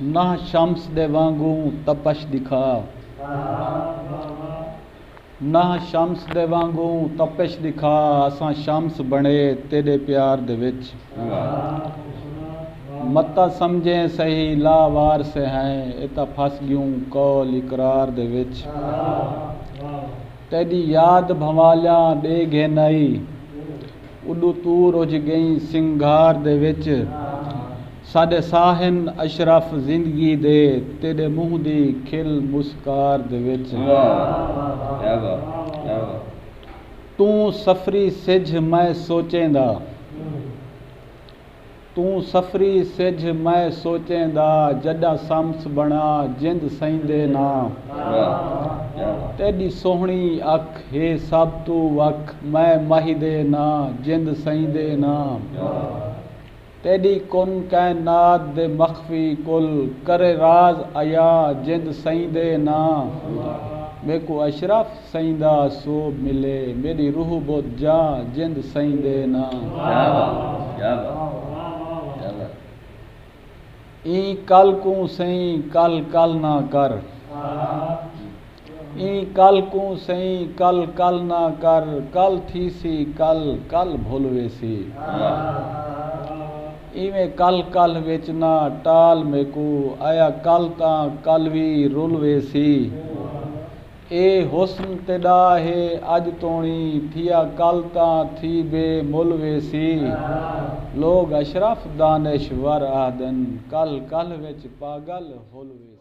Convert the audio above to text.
نہ شمس دے وانگوں تپش دکھا۔ نہ شمس دے وانگوں تپش دکھا۔ اساں شمس بݨے تیݙے پیار دے وچ۔ متاں سمجھیں سہی لا وار سے ہیں۔ اے تاں پھس ڳیوں قول اقرار دے وچ۔ تیݙی یاد بھنوالیاں ݙے گھن آئی۔ اݙوں توں رجھ ڳئیں سنگھار دے وچ ساݙے ساہ ہن اشرف زندگی دے تیݙے منہ دی کھل مسکار دے وچ توں سفری سجھ میں سوچیندا توں سفری سجھ میں سوچیں دا جڈاں سمس بنا جند سہیندے نا تیڈی سوہنی اکھ ہے سب توں وکھ میں مہیدے نا جند سہیندے نا تیڈی کن کائنات دے مخفی کل کرے راز عیاں جند سہیندے نا میکوں اشرف سئیں دا سوب ملے میݙی روح بت جا جند سئیں دے ناں ایں کل کوں سئیں کل کل نہ کر ایں کل کوں سئیں کل کل نہ کر کل تھیسی کل کل بھل ویسی ایویں کل کل وچ نہ ٹال میکوں آیا کل تاں کل وی رل ویسی اے حسن تیݙا ہے اڄ توݨی تھیا کل تاں تھی بے مل ویسی لوگ اشرف دانش ور آہدن کلھ کلھ وچ پاڳل ہل ویسی۔